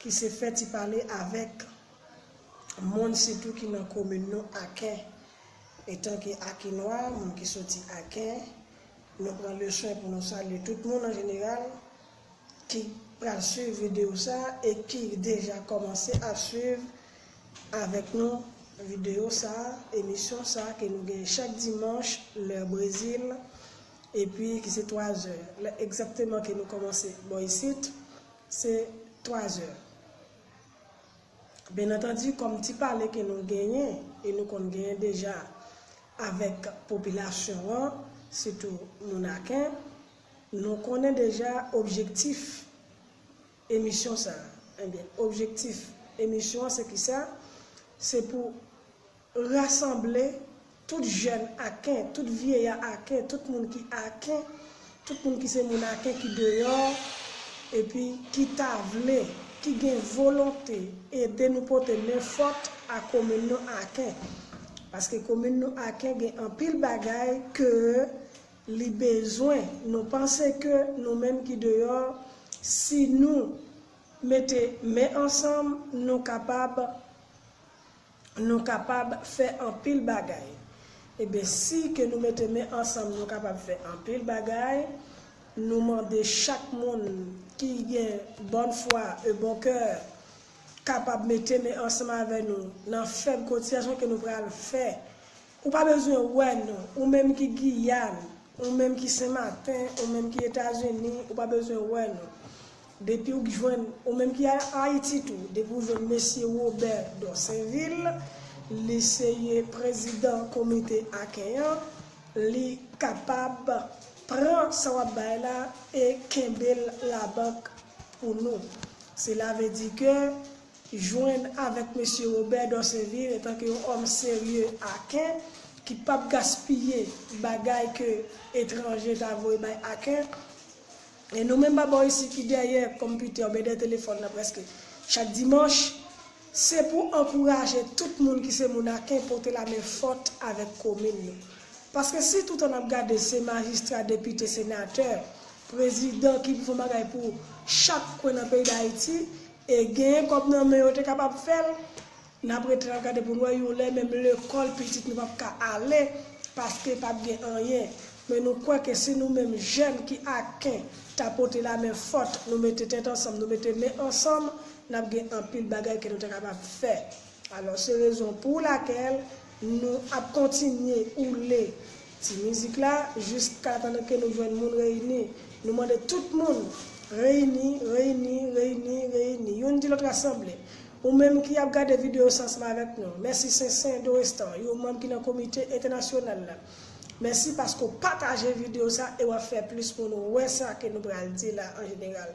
ki se fè ti pale avèk moun sitou ki nan komin nou Aken. Etanke Akenwa, moun ki soti Aken, nou pran le swen pou nou salye tout moun an jeneral ki pral swiv videyo sa a e ki deja kòmanse ap swiv avèk nou videyo sa a, emisyon sa a ke nou genyen chak dimanch lè Brezil epi ki se 3 zè egzakteman ke nou kòmanse bò isit. Se twazè. Byenantandi, kòm ti pale ke nou genyen, e nou konn genyen deja avèk popilasyon an, sitou moun Aken, nou konnen deja objektif emisyon sa a. Ebyen, objektif emisyon an se kisa? Se pou. Rasanble, tout jèn Aken, tout vyeya Aken, tout moun ki Aken, tout moun ki se moun Aken ki deyò, epi ki ta vle, ki gen volonte ede nou pote men fòt a komin nou Aken. Paske komin nou Aken gen anpil bagay ke li bezwen. Nou panse ke nou menm ki deyò, si nou mete men ansanm, nou kapab. Nou kapab fè anpil bagay. Eben si ke nou mete men ansanm nou kapab fè anpil bagay, nou mande chak moun ki gen bòn fwa e bon kè kapab mete men ansanm avè nou nan fèb kotizasyon ke nou pral fè Ou pa bezwen wè nou, ou menm ki Giyàn, ou menm ki Sen Maten, ou menm ki Etazini, ou pa bezwen wè nou. Depi ou k jwenn, ou menm ki Ayiti tou, depi ou jwenn Mesye Wobè Dòsenvil, li se yon prezidan komite akèy an, li kapab pran sa w ap bay la e kenbe l labank pou nou. Sela ve di ke. jwenn avèk Mesye Robert Dorcevil etanke yon òm serye Aken ki pap gaspiye bagay ke etranje ta voye bay Aken. E nou menm babo isi ki dèyè konpitè oubyen dèyè telefòn nan prèske chak dimanch, se pou ankouraje tout moun ki se moun Aken pote lamen fòt avèk komin nou. Paske si toutan nap gade se majistra, depite, senatè, prezidan ki pou fon bagay pou chak kwen nan peyi Dayiti, E gen kob nan men yo te kapab fel. Nap ret la gade poun wè yon lè menm lekol pitit nou pap ka ale paske pap gen anyen men nou kwè ke si nou menm jèn ki aken ta pote la men fòt nou mete tèt ansanm nou mete men ansanm nap gen anpil bagay ke nou ta kapab fè alò se rezon pou lakèl Nou ap kontinye oule ti mizik la jiskatandan ke nou jwenn moun reyini. Nou mande tout moun reyini, reyini, reyini, reyini. Youn di lòt rasanble. Ou menm ki ap gade videyo sa ansanm avèk nou, mèsi Sensen Dorestan, yon manm ki nan komite entènasyonal la. Mèsi paske w pataje videyo sa e w ap fè plis moun wè sa ke nou pral di la an jeneral.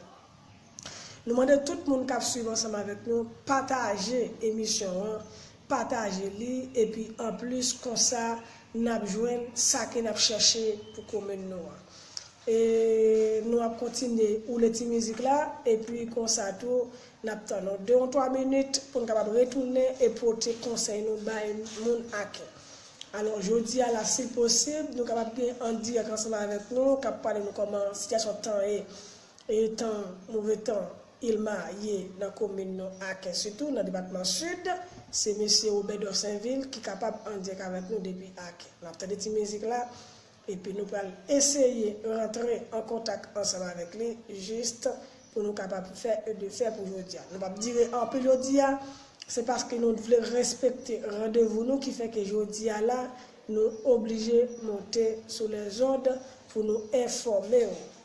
Nou mande tout moun kap swiv ansanm avèk nou pataje emisyon an pataje li epi anplis konsa nap jwenn sa ke nap chèche pou komin nou an e nou ap kontinye woule ti mizik la epi konsa tou nap tann yon 2 yon 3 minit poun kapab retounen e pote konsèy nou bay moun ake alò jodi a la sil posib nou kapab gen an dirèk ansanm avèk nou kap pale nou kòman sityasyon tan ye. Etan move tan Ilma ye nan komin nou Aken sitou nan depatman Sid, se mesye Robert Dorsainville ki kapab an dirèk avèk nou depi Aken. Nap tande ti mizik la epi nou pral eseye rantre an kontak ansanm avèk li jis pou nou kapab fè e de fè pou jodia. Nou pap dire anpil jodia, se paske nou t vle respekte randevou nou ki fè ke jodia la nou oblije monte sou lèzond pou nou enfòme ou.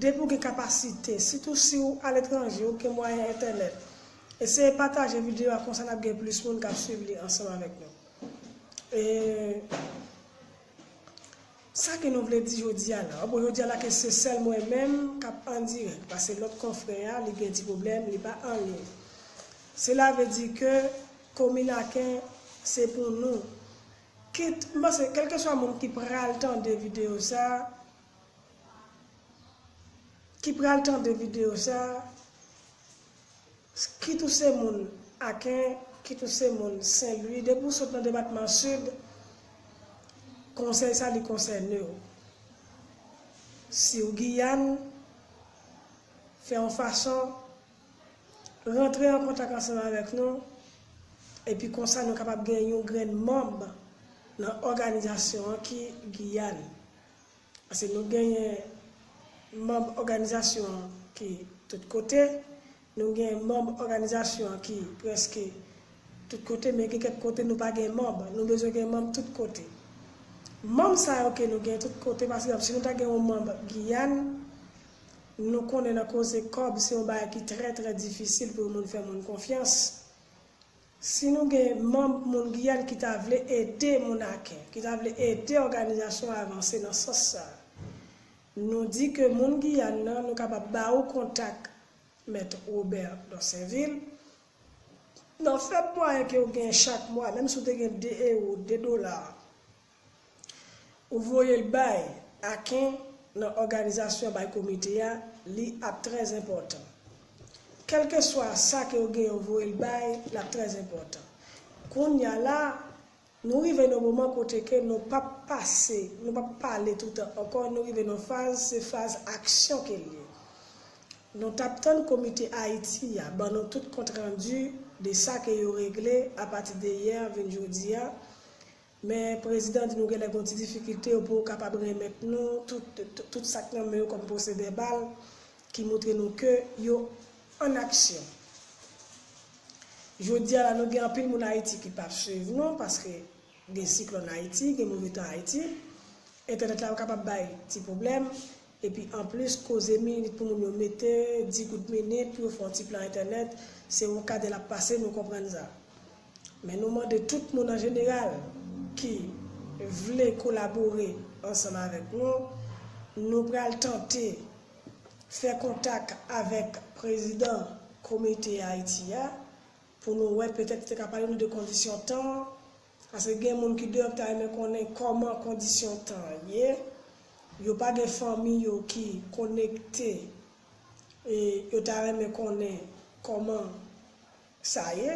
Depi w gen kapasite, sitou siw aletranje ou gen mwayen entènèt, eseye pataje videyo a konsa nap gen plis moun kap swiv li ansanm avèk nou. E sa ke nou vle di jodi a la. Bon jodi a la ke se sèl mwen menm kap an dirèk pase lòt konfrè a li gen ti pwoblèm li pa an liy. Sela vle di ke komin Aken se pou nou. Kit, m panse kèlkeswa moun ki pral tande videyo sa. ki pral tande video sa kit ou se moun aken kit ou se moun senlwi depi ou sot nan depatman sid konsèy sa li konsènew siw giyàn fè yon fason rantre an kontak ansanm avèk nou epi konsa nou kapab gen yon grenn manb nan òganizasyon an ki giyàn. Pase nou genyen manb òganizasyon an ki tout kote, nou gen manb òganizasyon an ki prèske tout kote men gen kèk kote nou pa gen manb, nou bezwen gen manb tout kote. Manb sa yo ke nou gen tout kote pa egzanp si nou ta gen yon manb Giyàn, nou konnen nan koze kòb se yon bagay ki trè trè difisil pou yon moun fè moun konfyans. Si nou gen manm moun Giyàn ki ta vle ede moun Aken, ki ta vle ede òganizasyon an avanse nan sans sa a, nou di ke moun Giyàn nan, nou kapab ba ou kontak Mèt Robert Dorsainville. Nan fèb mwayen ke ou gen chak mwa, menm si ou te gen 2 ewo, 2 dola, Ou voyel bay Aken nan òganizasyon bay komite a li ap trè enpòtan. Kelke swa sa ke ou gen ou voyel bay lap trè enpòtan. Kounya la nou rive nan moman kote ke nou pap pase nou pap pale toutan ankò nou rive nan faz se faz aksyon kel ye. Nou tap tann komite Ayiti a ban nou tout kont randu de sa ke yo regle apati de yè vinn jodia. Men prezidan di nou genlè gon ti difikilte yo pou kapab renmèt nou tout sak nan men yo kòm pwosè vèbal ki moutre nou ke yo an aksyon. Jodia la nou gen anpil moun Ayiti ki pap swiv nou paske gen siklòn Ayiti, gen move tan Ayiti, entènèt la yo kapab bay ti pwoblèm, epi anplis koze minit pou moun yo mete, di kout minit pou yo fè yon ti plan entènèt, se yon kadè lap pase nou konprann sa. Men nou mande tout moun an jeneral ki vle kolabore ansanm avèk nou, nou pral tante fè kontak avèk prezidan komite Ayiti a pou nou wè petèt li te ka pale nou de kondisyon tan an, paske gen moun ki deyò ki ta renmen konnen kòman kondisyon tan an ye, yo pa gen fanmi yo ki konekte e yo ta renmen konnen kòman. sa ye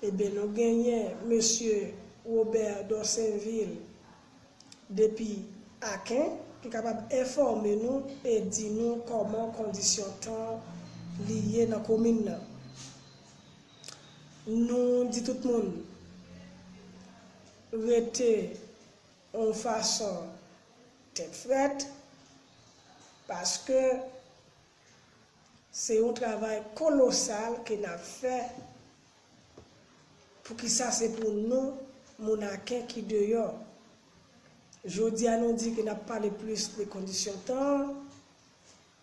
eben nou genyen mesye Robert Dorsainvil depi Aken ki kapab enfòme nou e di nou kòman kondisyon tan li ye nan komin nan nou di tout moun rete yon fason tèt frèt paske. Se yon travay kolosal ke n ap fè, poukisa se pou nou moun Aken ki deyò. Jodi a nou di ke n ap pale plis de kondisyon tan an,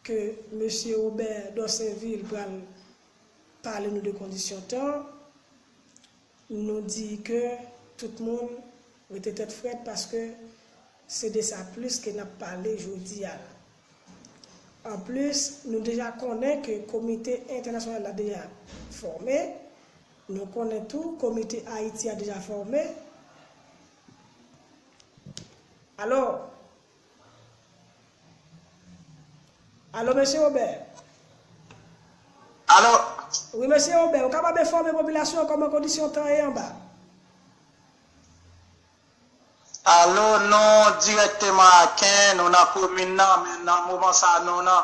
ke Mesye Robert Dorsainville pral pale nou de kondisyon tan an. Nou di ke tout moun rete tèt frèt paske se de sa plis ke nap pale jodi a la. An plis, nou deja konnen ke komite entènasyonal la deja fòme, nou konnen tou komite Ayiti a deja fòme. Alò. Alo Mesye Robert. Alo. Wi Mesye Robert, ou kapab enfòme popilasyon an kòman kondisyon tan ye anba? Alo, nou dirèkteman Aken, nou nan komin nan, men nan moman sa nou nan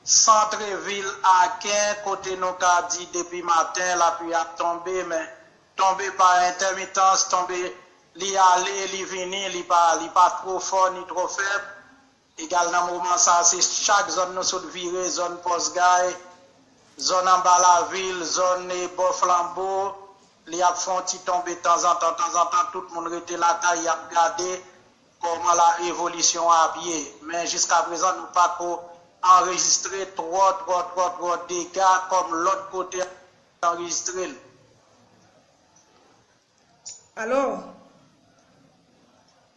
santre vil Aken kote nou ka di depi maten lapui ap tonbe men Tonbe pa entèmitans, tonbe li ale li vini, li pa li pa two fò ni twò fèb, egal nan moman sa se chak zòn nou sot vire, zòn pòs gay, zòn anba lavil, zòn bò flanbo, li ap fè yon ti tonbe tanzantan tanzantan, tout moun rete lakay yap gade kòman la evolisyon an ap ye. Men jiska prezan nou pako anrejistre twò twò twò twò dega kòm lòt kote. Mwen anrejistre l. Alo!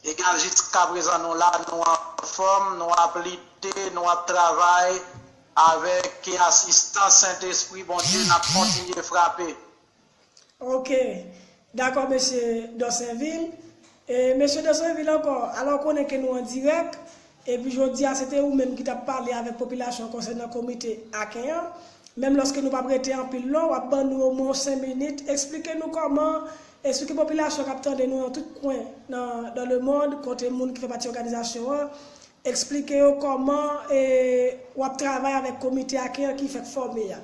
Egal Jiskaprezan nou la, nou anfòm, nou ap lite, nou ap travay, avèk asistans Sentespri Bondye n ap kontinye frape. Ok. Dakò Mesye Dorsainville. E Mesye Dorsainville ankò, ala w konnen ke nou an dirèk, epi jodi a se te ou menm ki t ap pale avèk popilasyon konsènan komite Aken an, menm lòske nou p ap rete anpil lon, w ap ban nou omwen yon sen minit, esplike nou kòman, esplike popilasyon k ap tande nou nan tout kwen nan dans le monde kote moun ki fè pati òganizasyon an, esplike yo kòman e w ap travay avèk komite Aken an ki fèk fòme a.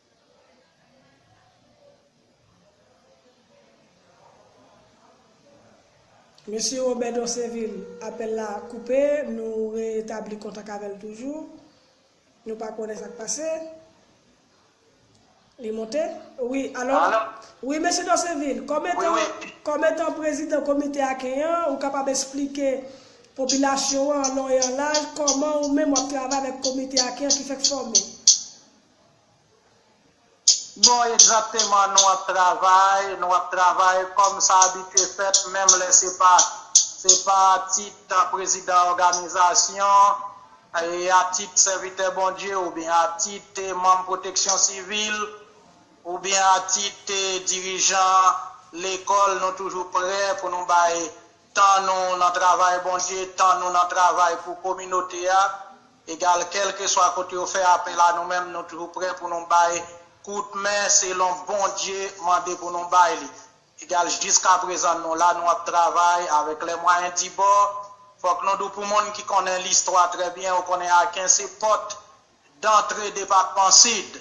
Mesye Robert Dorcevil, apèl la koupe, nou retabli kontak avè l toujou. Nou pa konnen sa k pase. Li monte? Wi, alò, wi Mesye Dorcevil, kòm etan, kòm etan prezidan komite Aken an, ou kapab esplike popilasyon an an lon e an laj kòman ou menm w ap travay avèk komite Aken an ki fèk fòme? Bon egzakteman nou ap travay, nou ap travay kòm sa abitye fèt menm lè se pa se pa a tit prezidan òganizasyon, a tit sèvitè Bondye oubyen a tit manm pwoteksyon sivil oubyen a tit dirijan lekòl nou toujou prè pou nou bay tan nou nan travay Bondye, tan nou nan travay pou kominote a. Egal kèlkeswa kote yo fè apèl a nou menm nou toujou prè pou nou bay kout men selon Bondye mande pou nou bay li. Egal jiskaprezan nou la nou ap travay avèk lè mwayen di bò. Fòk nou di w pou moun ki konnen listwa trè byen yo konnen Aken se pòt dantre depatman Sid.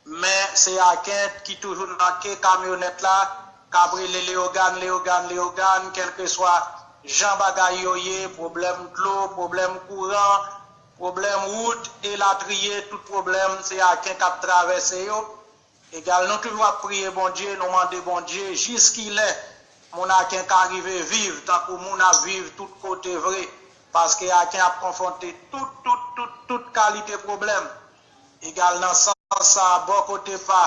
Men se Akent ki toujou nan ke kamyonèt la, k ap rele Leyogàn, Leyogàn, Leyogàn, kèlkeswa jan bagay yo ye, pwoblèm dlo, pwoblèm kouran, pwoblèm wout, elatriye, tout pwoblèm, se Akent k ap travèse yo. Egal, nou toujou ap priye Bondye, nou mande Bondye jiskilè moun Akent ka rive viv tankou moun ap viv tout kote vre, paske Akent ap konfwonte tout, tout, tout, tout kalite pwoblèm. Egal nan sans sa a bò kote pa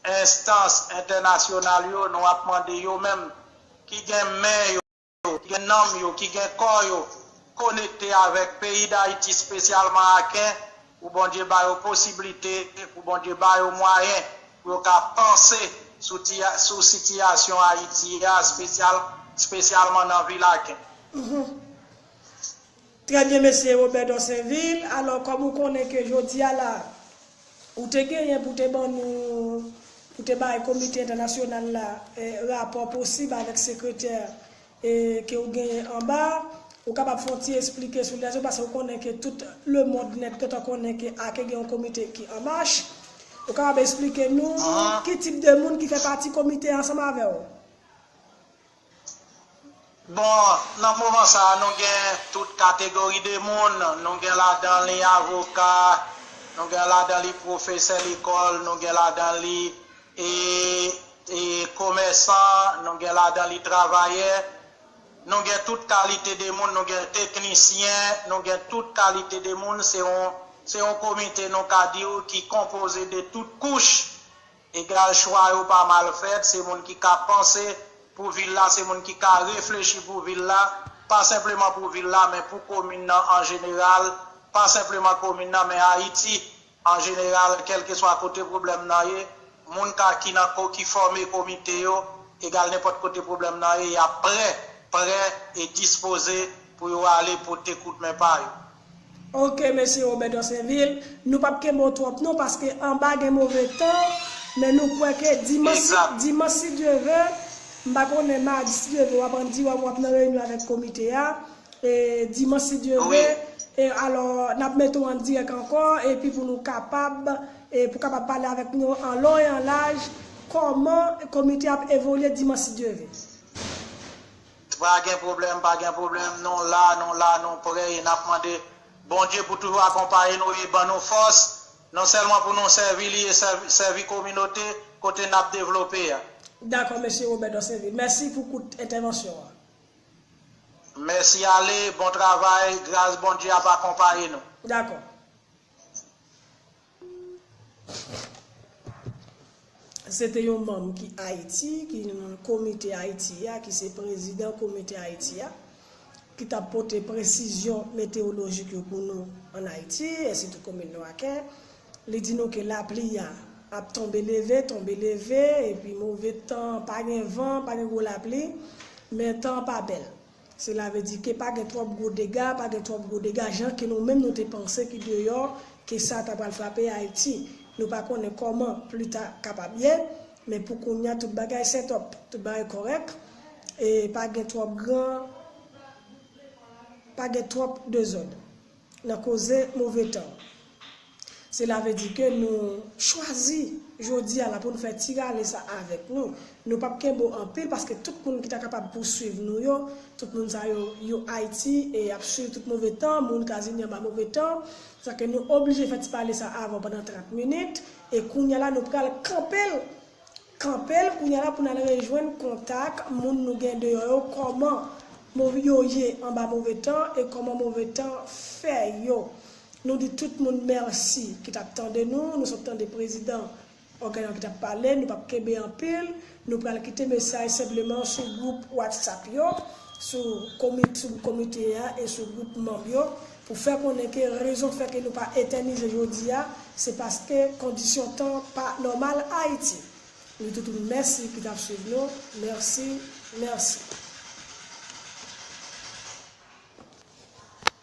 enstans entènasyonal yo nou ap mande yo menm ki gen men yo, ki gen nanm yo, ki gen kò yo konekte avèk peyi Dayiti spesyalman Aken pou Bondye ba yo posiblite, pou Bondye ba yo mwayen pou yo ka panse sou sitiyasyon Ayiti a spesyalman nan vil Aken. Trè byen Mesye Robert Dorsainvil, alò kòm ou konnen ke jodi a la ou te genyen pou te ban nou, pou te bay komite entènasyonal la rapò posib avèk sekretè ke ou genyen anba a, ou kapab fè yon ti esplike sou lè sa yo pase ou konnen ke tout le mond nèt gentan konnen ke ake gen yon komite ki an mach, ou kapab esplike nou ki tip de moun ki fè pati komite a ansanm avè ou? Bon, nan moman sa a nou gen tout kategori de moun, nou gen ladan li avoka, nou gen ladan li pwofesè lekòl, nou gen ladan li komèsan, nou gen ladan li travayè, nou gen tout kalite de moun, nou gen teknisyen, nou gen tout kalite de moun, se yon komite nou ka di ou ki konpoze de tout kouch. Egal chwa yo pa mal fèt, se moun ki ka panse pou vil la, se moun ki ka reflechi pou vil la, pa senpleman pou vil la men pou komin nan an jeneral, pa senpleman komin nan men Ayiti an jeneral kèlkeswa kote pwoblèm nan ye, moun ka ki nan ki fòme komite yo, egal nenpòt kote pwoblèm nan ye y ap prè, prè e dispoze pou yo ale pote kout men pa yo. Ok Mesye Robert Dorsainville, nou pap kenbe w twòp non paske anba gen move tan, men nou kwè ke dimanch dimanch si Dye ve, m pa konnen madi si Dye ve wap an Dua ou wap nan reyinyon avèk komite a, e dimanch si Dye ve, e alò nap mete w an dirèk ankò epi pou nou kapab e pou kapab pale avèk nou an lon e an laj kòman komite a ap evolye dimanch si Dye ve. Pa gen pwoblèm, pa gen pwoblèm, nou la, nou la, nou prè e nap mande Bondye pou toujou akonpaye nou e ban nou fòs, non sèlman pou nou sèvi li e sèvi kominote kote nap devlope a. Dakò Mesye Robert Dorcevil. Mèsi pou kout entèvansyon an. Mèsi ale, bon travay, gras Bondye ap akonpaye nou. Dakò. Se te yon manm ki Ayiti, ki nan komite Ayiti a, ki se prezidan komite Ayiti a, ki t ap pote presizyon metewolojik yo pou nou ann Ayiti, e sitou komin nou Aken. Li di nou ke lapli a ap tonbe leve, tonbe leve, epi move tan, pa gen van, pa gen gwo lapli, men tan an pa bèl. Sela ve di ke pa gen twòp gwo dega, pa gen twòp gwo dega jan ke nou menm nou te panse ki deyò ke sa ta pral frape Ayiti. Nou pa konnen kòman pli ta kapab ye, men pou kounya tout bagay setòp, tout bagay kòrèk e pa gen twòp gran, pa gen twòp dezòd. Nan koze move tan. Se lave di ke nou chwazi jodi a la pou nou fè ti rale sa avèk nou. Nou pap kenbo anpil paske tout moun ki ta kapab pou swiv nou yo, tout moun sa yo, yo Ayiti e y ap swiv tout move tan, moun Kazini anba move tan. Sa ke nou oblije fè ti pale sa avan pandan 30 minit e kounya la nou pral kanpe l Kanpel kounya la pou nal rejwenn kontak moun nou gen deyò yo kòman move yo ye anba move tan e kòman move tan fè yo nou di tout moun mèsi ki tap tande nou nou sot tande prezidan ògàn an ki tap pale nou pap kenbe anpil nou pral kite mesaj senpleman sou gwoup whatsapp yo sou komite a e sou gwoup manm yo pou fè konnen ke rezon k fè ke nou pa etènize jodi a se paske kondisyon tan an pa nòmal Ayiti. Nou tout w mèsi ki t ap swiv nou. Mèsi. Mèsi.